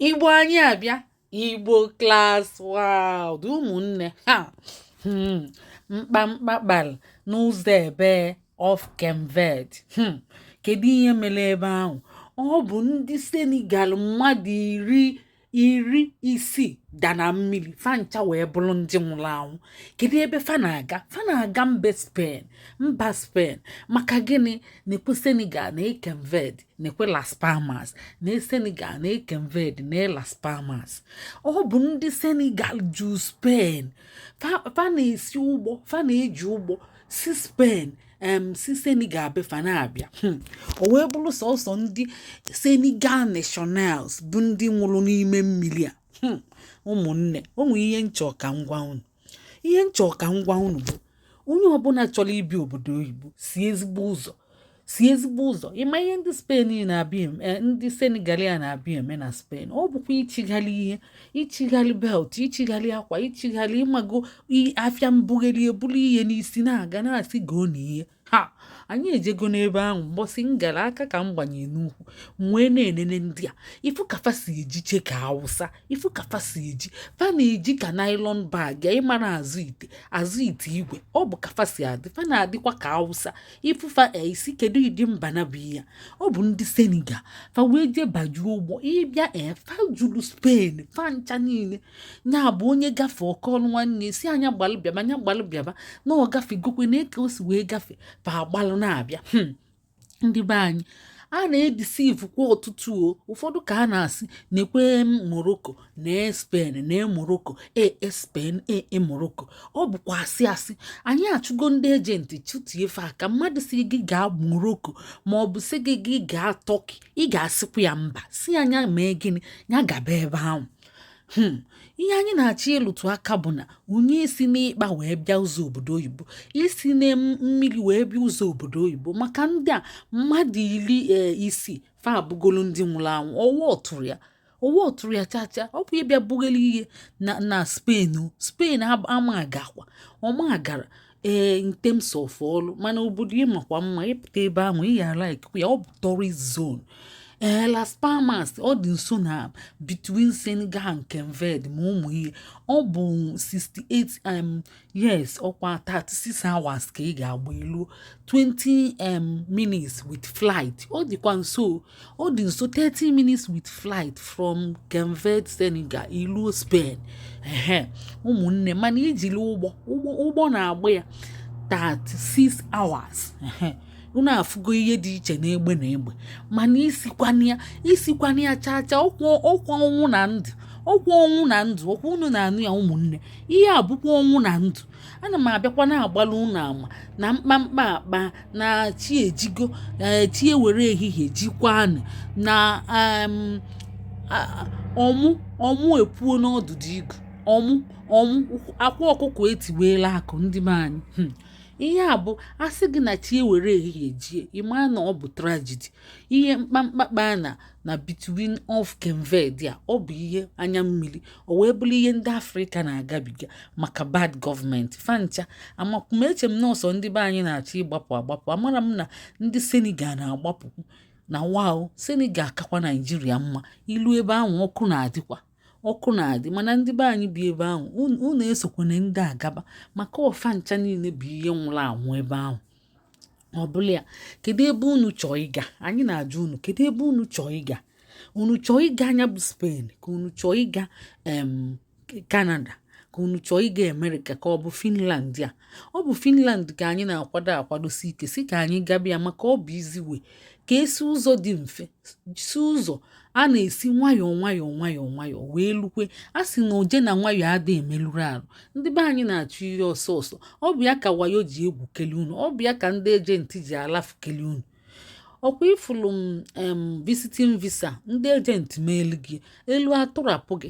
igbo anyị abịa igbo class world ụmụnne ha hmm, mkpamkpa kpalụ n'ụzọ ebe of cape verde hmm, kedu ihe mere ebe ahụ ọ bụ ndị senegal mmadụ iri iri isii da na mmiri fa ncha wee bụrụ ndị nwụrụ anwụ kedu ebe fa na-aga fa na-aga mba spain mba spain maka gịnị nekwe senegal nee cape verde nekwe las palmas nee senegal nee cape verde nee las palmas ọ bụ ndị senegal ju spain fa na-esi ụgbọ fa na-eji ụgbọ si spain em si senegal be fa na-abịa hmm. o wee bụrụ sọsọ ndị senegal nationals bụ ndị nwụrụ n'ime mmiri a hmm. ụmụnne o nwere ihe m chọ ka m gwa unu ihe m chọrọ ka m gwa unu bụ onye ọbụla chọrọ ibi obodo oyibo si ezigbo ụzọ si ezigbo ụzọ ị ma ihe ndị spain na-abịa eh, ndị senegal a na-abịa eme na spain ọ bụkwa ịchịgharị ihe ịchịgharị belt ịchịgharị akwa ịchịgharị ị mago afịa mbugharị e buru ihe n'isi na-aga na-asị goonụ ihe ha anyị ejego n'ebe ahụ mbọsị m gara aka ka m gbanye n'ukwu m wee na-enene ndị a ị fụ ka fa si eji che ka awụsa ị fụ ka fa si eji fa na-eji ka nylon bag ị mara azụ ite azụ ite igwe ọ bụ ka fa si adị fa na-adịkwa ka awụsa ị fụ fa ị sị kedu ịdị mba na bụ ya ọ bụ ndị senegal fa wee jee bajuo ụgbọ ị bịa fa juru spain fa ncha niile nya bụ onye gafe ọ kọọlụ nwanne sị ya nya gbalụ bịaba nya gbalụ bịaba na ọ gafegokwe na eke o si wee gafe fa agbalụ na-abịa hmm. ndị be anyị a na-edisivu kwa ọtụtụ o ụfọdụ ka a na-asị nekwe morocco nee spain nee morocco ee e, spain ee e, morocco ọ bụkwa asị asị anyị achụgo ndị agent chụtie fa ka mmadụ sị gị gaa morocco ma ọ bụ sị gị gị gaa turkey ị ga-asịkwa ya mba sị ya nya mee gịnị ya gaba ebe ahụ hmm, ihe anyị na-achọ ịlụtụ aka bụ na onye esina ikpa wee bịa ụzọ obodo oyibo esina mmiri wee bịa ụzọ obodo oyibo maka ndị a mmadụ iri e, isii fa abụgolu ndị nwụrụ anwụ ọwa ọtụrụ ya ọwa ọtụrụ ya chacha ọ bụ ịbịa bughalị ihe na na spain spain ama agakwa ọma agara ee in terms of ọlụ mana obodo ị makwa mma ị pụta ebe ahụ ị ya like ya ọ bụ tourist zone ee Las Palmas ọ dị nso na between Senegal and Cape Verde ma ụmụ ihe ọ bụ 68 um, years ọkwa 36 hours ka ị ga-agba ilu 20 um, minutes with flight ọ dịkwa nso ọ dị nso 30 minutes with flight from Cape Verde Senegal iluo Spain ehe ụmụnne mana ijiri ụgbọ ụgbọ na-agba ya 36 hours ehe unu afụgo ihe dị iche n'egbe na egbe mana isikwana ya isikwana ya chaa chaa ọkwa ọnwụ na ndụ ọkwa ọnwụ na ndụ ọkwa unu na-anụ ya ụmụnne ihe a bụkwa ọnwụ na ndụ ana m abịakwa na-agbalụ unu ama na mkpamkpa akpaa na chi ejigo eh, chi ewere ehihie jikwanụ na ọmụ ọmụ epuo n'ọdụdụ igu ọmụ ọmụ akwa ọkụkọ etiweela akụ ndị be anyị hmm. ihe a bụ a sị gị na chi ewere ehihie jie ị ma na ọ bụ tragedy ihe mkpamkpa akpaa na na between of Cape Verde a ọ bụ ihe anya mmiri o wee bụrụ ihe ndị afrịka na-agabiga maka bad government fa ncha amakwa m eche m na ọ sọ ndị be anyị na-achọ ịgbapụ agbapụ amara m na ndị senegal na-agbapụkwu na wa o senegal akakwa naijiria mma iluo ebe ahụ ọkụ na-adịkwa ọkụ na-adị mana ndị be anyị bi ebe ahụ unu esokwana ndị a gaba maka ọ fa ncha niile bụ ihe nwụrụ anwụ ebe ahụ ọ bụlụ ya kedu ebe unu chọọ ịga anyị na-ajụ unu kedu ebe unu chọọ ịga unu chọọ ịga nya bụ Spain ka unu chọọ ịga Canada ka unu chọọ ịga America ka ọ bụ finland a ọ bụ finland ka anyị na-akwado akwadosi ike sị ka anyị gaba ya maka ọ bụ easy way ka e si ụzọ dị mfe si ụzọ a na-esi nwayọọ nwayọọ nwayọọ nwayọọ wee lukwe a sị na oje na nwayọọ adị emelụrụ arụ ndị be anyị na-achụ ihe ọsọ ọsọ ọ bụ ya ka wayo ji egwu kele unu ọ bụ ya ka ndị agent ji alafu kele unu ọkwa ị fụlụ visiting visa ndị agent meelu gị e luo a tụrapụ gị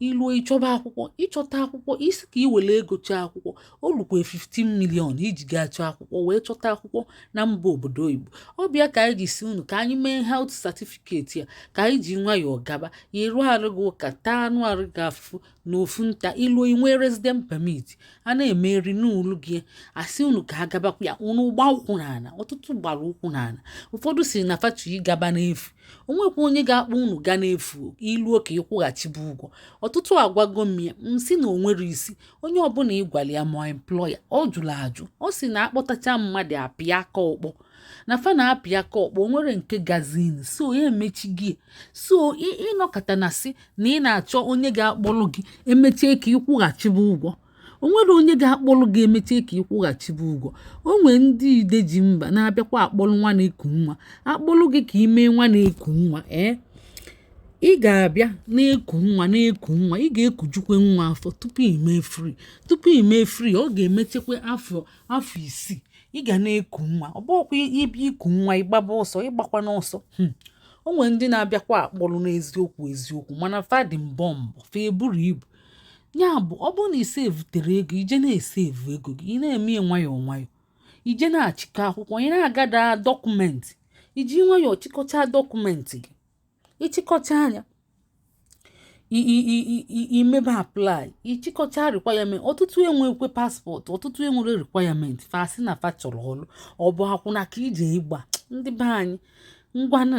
iluo ịchọba akwụkwọ ịchọta akwụkwọ ị sị ka i were ego chọọ akwụkwọ o lukwe 15 million iji gaa chọọ akwụkwọ wee chọta akwụkwọ na mba obodo oyibo ọ bụ ya ka anyị ji sị unu ka anyị mee health certificate ya ka anyị ji nwayọọ gaba ya eruo arụ gị ụka taa anụ arụ gị afụfụ na ofu nta iluo inwe resident permit a na-emeri n'ụlọ gị a sị unu ka a gabakwa ya unu gba ụkwụ n'ala ọtụtụ gbara ụkwụ n'ala ụfọdụ sị na fa chọọ ịgaba n'efu onwekwa onye ga-akpọ unu gaa n'efu iluo ka ịkwụghachiba ụgwọ ọtụtụ agwago m ya m sị na onwere isi onye ọbụla ịgwala ya ma employer ọ jụrụ ajụ ọ sị na akpọtacha mmadụ apịa aka ọkpọ na fa na-apịa aka ọkpọ onwere nke gazin so ya emechi gị so ịnọkata na sị na ị na-achọ onye ga-akpọru gị emechaa ka ịkwụghachiba ụgwọ o nwere onye ga-akpọlụ gị emecha ka ị kwụghachibe ụgwọ o nwee ndị ide ji mba na-abịakwa akpọlụ nwa na-eku nwa akpọlụ gị ka ime nwa na-eku nwa ee ị ga-abịa na-eku nwa na-eku nwa ị ga-ekujukwe nwa afọ tupu i me free tupu i me free ọ ga-emechekwa afọ afọ isii ị ga na-eku nwa ọ bụkwa ị bịa iku nwa ị gbaba ọsọ ịgbakwa n'ọsọ hmm. o nwere ndị na-abịakwa akpọlụ n'eziokwu eziokwu mana fa dị bọmbụ fa eburu ibu ya bụ ọ bụrụ na i sevutere ego i je na-esevu ego gị ị na-eme ya nwayọọ nwayọọ i je na-achịkọ akwụkwọ ị na-agada document i ji nwayọọ chịkọcha document gị ị chịkọchaa nya i mebe apply ị chịkọcha requirement ọtụtụ enwekwe passport ọtụtụ enwere requirement fa sị na fa chọrọ ọrụ ọ bụ akwụna ka i je ịgba ndị be anyị ngwanụ